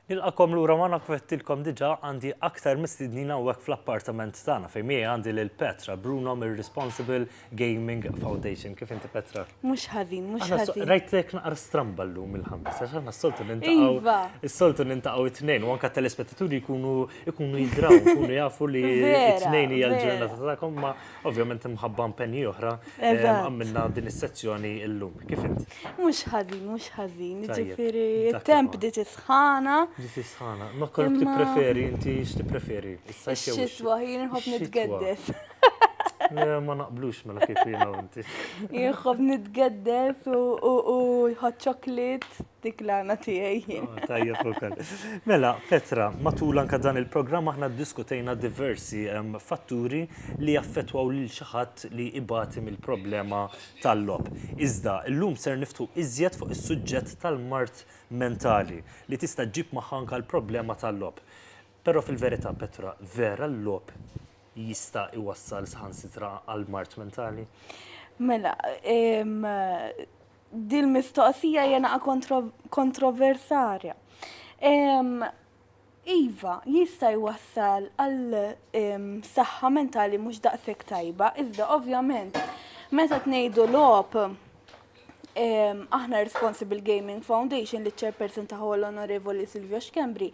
Nilqakom lura magħna kif għedtilkom diġà għandi aktar mistednin hawnhekk fl-appartament tagħna fejn miegħi għandi lil Petra Bruno mir-Responsible Gaming Foundation. Kif inti Petra? Mhux ħażin, mhux ħażin. Rajtek naqra stramba llum il-ħames għax aħna s-soltu nintaqgħu. Iva. Is-soltu nintaqgħu it-tnejn u anke t-telespettaturi jkunu jkunu jidraw, jkunu jafu li t-tnejn hija l-ġurnata tagħkom ma' Ovvjament imħabba impenji oħra għamilna din is-sezzjoni illum. Kif int? Mhux ħażin, mhux ħażin. Ġifieri t-temp bdiet isħana. Bdiet isħana. Ma kollok tippreferi inti x'tippreferi? Ix-xitwa jien nħobb nitgeddes. Ma naqblux mela kif jiena inti. Jien nħobb nitgeddes u jħodd ċoklit. Dik l-għana tiegħi jien. Oh, tajjeb ukoll. Mela, Petra, matul anke dan il-programm aħna ddiskutejna diversi ehm, fatturi li jaffettwaw lil xi ħadd li ibati mill-problema tal-lob. Iżda llum ser niftu iżjed fuq is-suġġett tal-mard mentali li tista' ġib magħha anke l-problema tal-lob. Però fil-verità, Petra, vera l-lob jista' iwassal saħansitra għal mard mentali? Mela, ehm, Dil-mistoqsija hija naqa' kontroversarja. Iva, jista' jwassal għal saħħa mentali mhux daqshekk tajba, iżda ovvjament meta tnejdu logħob aħna responsible gaming foundation li ċerpersin ta' l-Onorevoli Silvio Xkembri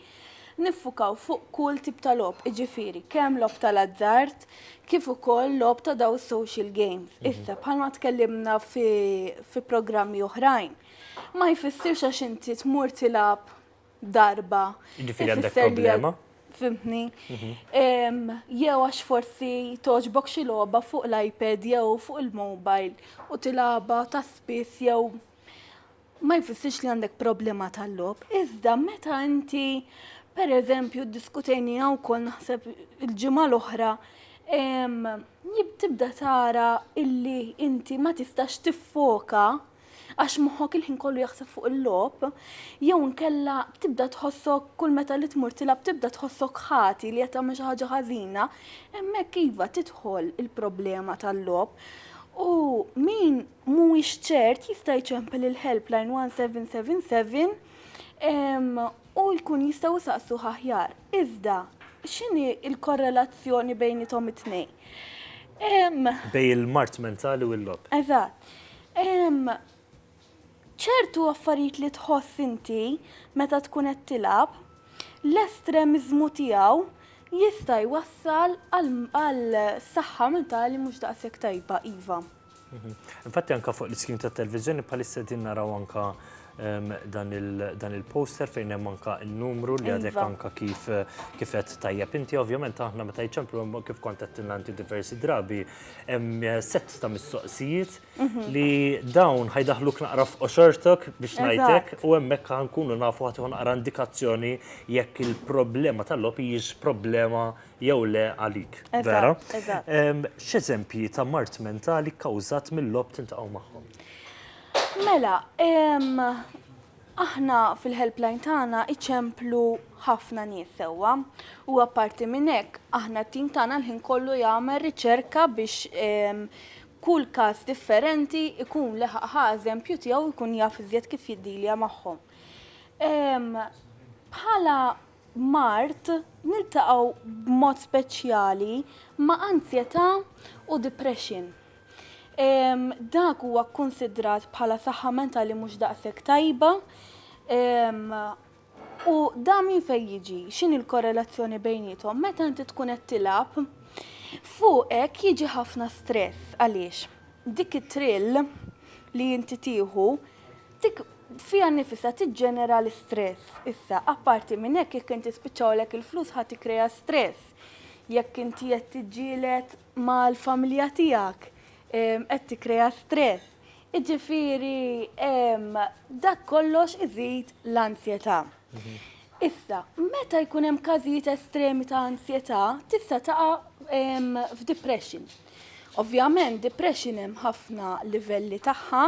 Niffukaw fuq kull tip ta' logħob, jiġifieri kemm logħob tal-azzard kif ukoll logħob ta' dawn is-social games. Issa, bħalma tkellimna fi fi programmi oħrajn, ma jfissirx għax inti tmur tilgħab darba, Jiġifieri għandek ifisser li problema? fhimtni? Jew għax forsi togħġbok xi logħba fuq l-iPad jew fuq il-mobile u tilgħabha ta' spiss jew ma jfissirx li għandek problema tal-logħob, iżda meta inti pereżempju ddiskutejniha wkoll naħseb il-ġimgħa l-oħra tibda tara illi inti ma tistax tiffoka għax moħħok il-ħin kollu jaħseb fuq il-logħob, jew nkella tibda tħossok kull meta li tmur tilab tibda tħossok ħati li qed tagħmel xi ħaġa ħażina, hemmhekk iva tidħol il-problema tal-logħob. U min mhuwiex ċert jista' jċempel il-helpline 1777 u jkun jistgħu jsaqsuh aħjar. Iżda, x'inhi l-korrelazzjoni bejniethom it-tnejn? Bejn il-mard mentali u l-logħob. Eżatt. Ċertu affarijiet li tħoss inti meta tkun qed tilgħab, l-estremiżmu tiegħu jista' jwassal għal saħħa mentali mhux daqshekk tajba, iva. Infatti anka fuq l-iskrin ta' televizjoni bħalissa din naraw anka ehm, dan il-poster fejn hemm anka n-numru li għadek iva. anka kif kifet tajjeb inti ovvjament aħna meta jċemplu kif kont qed inti diversi drabi hemm eh, set ta' mistoqsijiet mhm. li dawn ħajdaħluk naqra f'qoxortok biex ngħidlek u hemmhekk nkunu nafu ħadd naqra indikazzjoni jekk il-problema tal-logħob hijiex problema jew le għalik. Vera? X'eżempji ta' mart mentali kkawżat mill-lob tintaqgħu magħhom? Mela, aħna fil-helpline tagħna iċemplu ħafna nies sewwa u apparti minn hekk aħna t-tim tagħna l-ħin kollu jagħmel riċerka biex kull każ differenti ikun leħaqħa eżempju tiegħu jkun jaf iżjed kif jiddilja magħhom. Bħala mard, niltaqgħu b'mod speċjali ma' anzjetà u depression. Dak huwa kkunsidrat bħala saħħa mentali mhux daqshekk tajba u dan minn fejn jiġi? X'inhi l-korrelazzjoni bejniethom? Meta inti tkun qed tilgħab, fuqek jiġi ħafna stress għaliex dik it-thrill li inti tieħu Dik fiha nnifisha tiġġenera l-istress. Issa, apparti minn hekk, jekk inti spiċċawlek il-flus ħa tikkrea stress. Jekk inti qed tiġġieled mal-familja tiegħek, qed tikkrea stress. Jiġifieri dak kollox iżid l-anzjetà. Issa, meta jkun hemm każijiet estremi ta' anzjetà, tista' taqa' f'depression. Ovvjament, depression hemm ħafna livelli tagħha,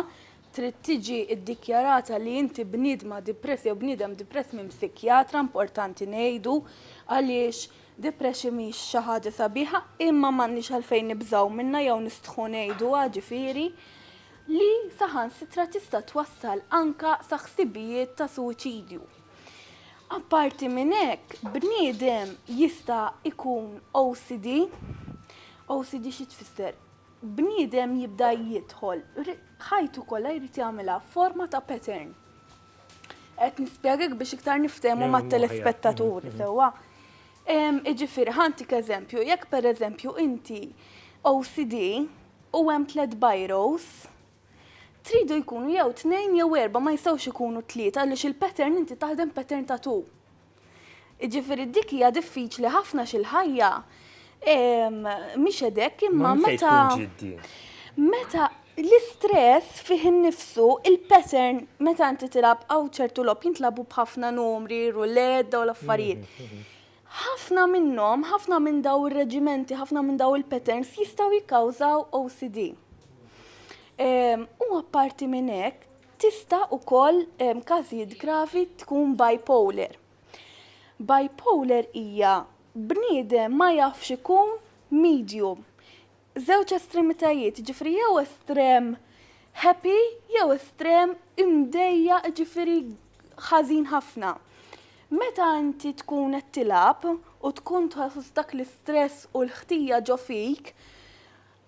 trid tiġi ddikjarata li inti bniedma dipress jew bniedem dipress minn psikjatra importanti ngħidu għaliex depression mhix xi ħaġa sabiħa imma m'għandniex għalfejn nibżgħu minnha jew nistħu ngħiduha ġifieri li saħansitra tista' twassal anke sa ħsibijiet ta' suwiċidju. Apparti minn hekk, bniedem jista' jkun OCD. OCD xi tfisser? bniedem jibda jidħol, ħajtu kollha jrid jagħmilha f'forma ta' pattern. Qed nispjegak biex iktar niftehmu mat-telespettaturi sewwa. Jiġifieri ħa ntik eżempju, jekk pereżempju inti OCD u hemm tliet bajrows, tridu jkunu jew tnejn jew erbgħa ma jistgħux ikunu tlieta għaliex il-pattern inti taħdem pattern ta' two. Jiġifieri dik hija diffiċli ħafna xi l-ħajja mhix hekk imma meta meta l-istress fih innifsu il-pattern meta inti tilab hawn ċertu lob jintlabu b'ħafna numri, ruled u l-affarijiet. Mhm, mhm. Ħafna minnhom, ħafna minn daw ir-reġimenti, ħafna minn daw il-patterns jistgħu jikkawżaw OCD. U apparti minn hekk, Tista' ukoll f'każijiet gravi tkun bipolar. Bipolar hija bniedem ma jafx ikun medium. Żewġ estremitajiet, jiġifieri jew estrem happy jew estrem imdejjaq, jiġifieri ħażin ħafna. Meta inti tkun qed tilgħab u tkun tħoss dak l-istress u l-ħtija ġo fik,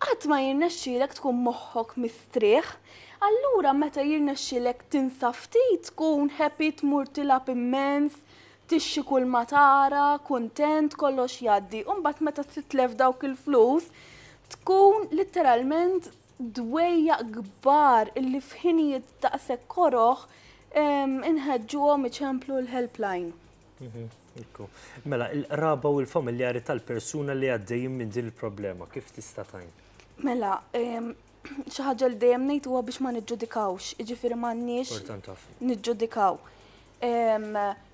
Qatt ma jirnexxielek tkun moħħok mistrieħ. Allura meta jirnexxielek tinsa ftit tkun happy tmur tilgħab immens, tixxi kulma tara, kuntent, kollox jgħaddi. U mbagħad meta titlef dawk il-flus tkun litteralment dwejjaq kbar illi f'ħinijiet daqshekk koroh inħeġġuhom iċemplu l-helpline. Mela, il-qraba u l-familjari tal-persuna li għaddejjin minn din il-problema, kif tista' tgħin? Mela, xi ħaġa li dejjem ngħid huwa biex ma niġġudikawx, jiġifieri m'għandniex niġġudikaw.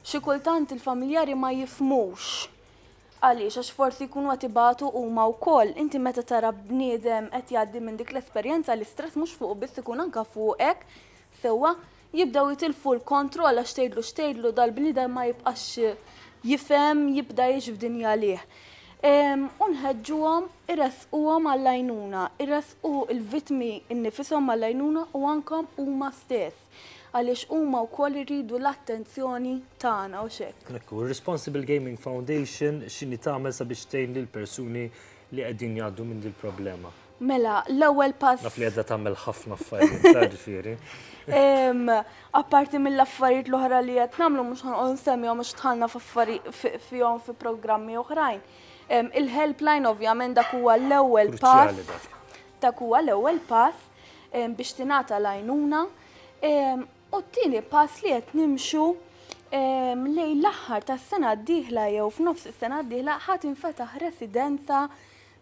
Xi kultant il-familjari ma jifhmux għaliex għax forsi jkunu qed ibatu huma wkoll. Inti meta tara bniedem qed jgħaddi minn dik l-esperjenza l-istress mhux fuq biss ikun anke fuqek sewwa Jibdew jitilfu l-kontroll għax tgħidlu x'tgħidlu dal-bniedem ma jibqax jifhem jibda jgħix f'dinja għalih. U nħeġġuhom iressquhom għall-għajnuna, iressqu l-vittmi nnifishom għall-għajnuna u anke huma stess għaliex huma wkoll iridu l-attenzjoni tagħna u x'hekk. Hekk hu, Responsible Gaming Foundation x'inhi tagħmel sabiex tgħin lill-persuni li qegħdin jgħaddu minn dil-problema? Mela, l-ewwel pass. Naf li għedha tagħmel ħafna affarijiet, ta' ġifieri. Apparti mill-affarijiet l-oħra li qed nagħmlu mhux ħanqgħod nsemmihom għax dħalna f'affarijiet fihom fi programmi oħrajn. Il-helpline ovvjament dak huwa l-ewwel pass. Dak huwa l-ewwel pass biex tingħata l-għajnuna. U t-tieni pass li qed nimxu lejn l-aħħar tas-sena d-dieħla jew f'nofs is-sena d-dieħla ħadd infetaħ residenza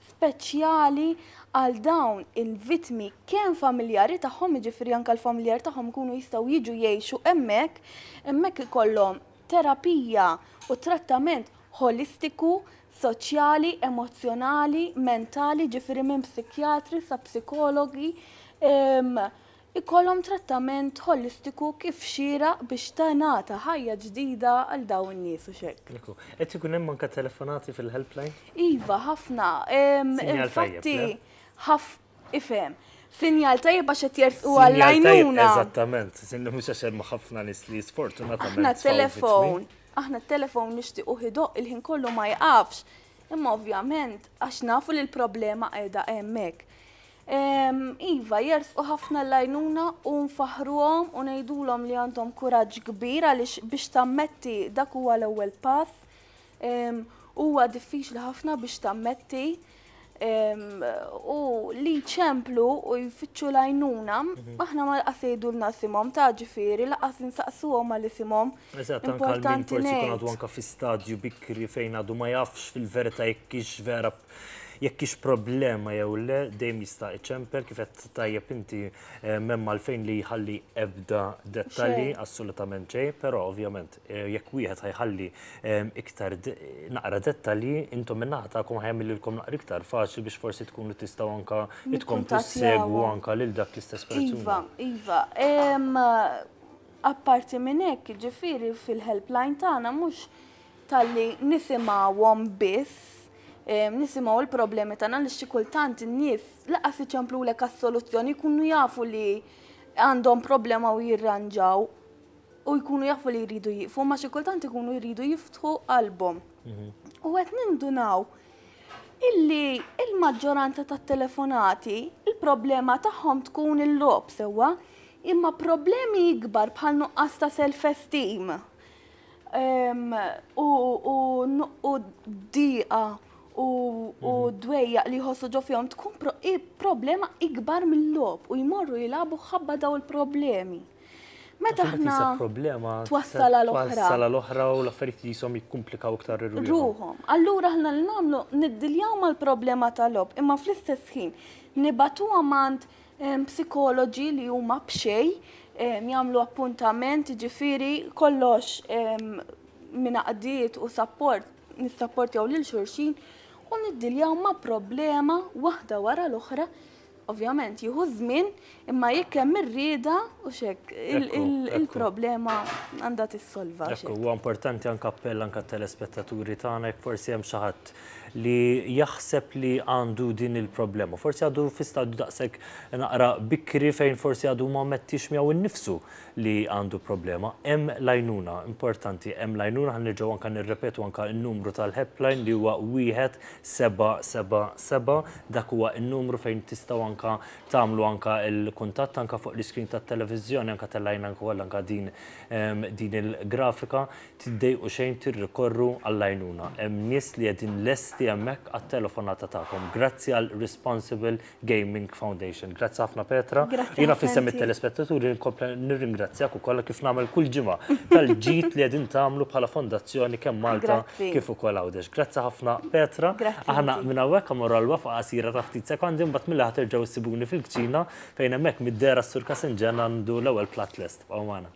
speċjali għal dawn il-vittmi kemm familjari tagħhom, jiġifieri anke l-familjar tagħhom ikunu jistgħu jiġu jgħixu hemmhekk, hemmhekk ikollhom terapija u trattament ħolistiku, soċjali, emozzjonali, mentali, jiġifieri minn psikjatri sa psikologi, ikollhom trattament ħolistiku kif xieraq biex tingħata ħajja ġdida għal dawn in-nies u x'hekk. Ekku. Qed ikun hemm anke telefonati fil-helpline? Iva, ħafna. Infatti, ħaf ifhem. Sinjal tajjeb għax qed jertqu għall-għajnuna. Eżattament, sinna mhux għax hemm ħafna nies li sfortunatament. Aħna t-telefon, aħna t-telefon nixtiequ ħidoq il-ħin kollu ma jqafx. Imma ovvjament għax nafu li l-problema qiegħda hemmhekk. Iva, jersqu ħafna l-għajnuna u nfaħħruhom u ngħidulhom li għandhom kuraġġ kbir għaliex biex tammetti dak huwa l-ewwel pass. Huwa diffiċli ħafna biex tammetti u li jċemplu u jfittxu l-għajnuna, aħna ma laqas jgħidulna isimhom ta' ġifieri laqas insaqsuhom għal isimhom. Eżatt, anke għal min forsi jkun għadu anke fi stadju bikri fejn għadu ma jafx fil-verità jekk hix vera Jekk hix problema jew le, dejjem jista' iċemper kif qed tajjeb inti m'hemm għalfejn li jħalli ebda dettalji assolutament xejn, però ovvjament jekk wieħed ħajħalli iktar naqra dettalji intom min-naħa tagħkom ħajagħmililkom naqra iktar faċli biex forsi tkunu tistgħu anke tkomplu ssegwu anke lil dak l-istess persuna. Iva, iva. Apparti minn hekk, jiġifieri fil-helpline tagħna mhux talli nisimgħuhom biss, nisimgħu l-problemi tagħna li xi kultant in-nies laqas iċemplulek għas-soluzzjoni jkunu jafu li għandhom problema u jirranġaw u jkunu jafu li jridu jifu, ma xi kultant ikunu jridu jiftħu qalbhom. Mhm. U qed nindunaw illi il-maġġoranza tat-telefonati il-problema tagħhom tkun il-lob sewwa, imma problemi ikbar bħal nuqqas ta' self-esteem u diqa u mhm. dwejja li jħossu ġo fihom tkun problema ikbar mill-lob u jmorru jilabu ħabba daw il-problemi. Meta ħna problema twassal għal oħra. Twassal għal oħra u l-affarijiet li jisom jikkumplikaw iktar ir-ruħom. Allura ħna li nagħmlu niddiljaw mal-problema tal-lob imma fl-istess ħin nibatuha mand psikoloġi li huma b'xej jagħmlu appuntament, ġifiri kollox minn għaqdiet u sapport, nissapportjaw lil xulxin u niddiljaw ma' problema waħda wara l-oħra. Ovvjament jieħu żmien, imma jekk hemm ir-rieda u xek il-problema għandha tissolva. Huwa importanti anke appell anke telespettaturi tagħna jekk forsi hemm xi ħadd li jaħseb li għandu din il-problema. Forsi għadu fi stadju daqshekk naqra bikri fejn forsi għadu ma mettix miegħu nnifsu li għandu problema. Hemm l-għajnuna, importanti, hemm l-għajnuna ħan nerġgħu anke nirrepetu anke n-numru tal-helpline li huwa wieħed seba' seba' seba' dak huwa n-numru fejn tistgħu anke tagħmlu anke l-kuntatt anke fuq l-iskrin tat-televiżjoni anke tellgħinna anke wkoll anke din ehm, din il-grafika. Tiddejqu xejn tirrikorru għall-għajnuna. Hemm nies li qegħdin lesti hemmhekk għat-telefonata tagħkom. Grazzi għal Responsible Gaming Foundation. Grazzi ħafna Petra. Jiena f'isem it-telespettaturi nkompli nirringrazzjak ukoll kif nagħmel kull ġimgħa tal-ġid li qegħdin tagħmlu bħala fondazzjoni kemm Malta kif ukoll Għawdex. Grazzi ħafna Petra. Aħna minn hawnhekk immorru għal waqfa qasira ta' ftit sekondi mbagħad minn laħa terġgħu ssibuni fil-kċina fejn hemmhekk mid-dehra s-Sur Kasenġan għandu l-ewwel platt lest. Bqgħu magħna.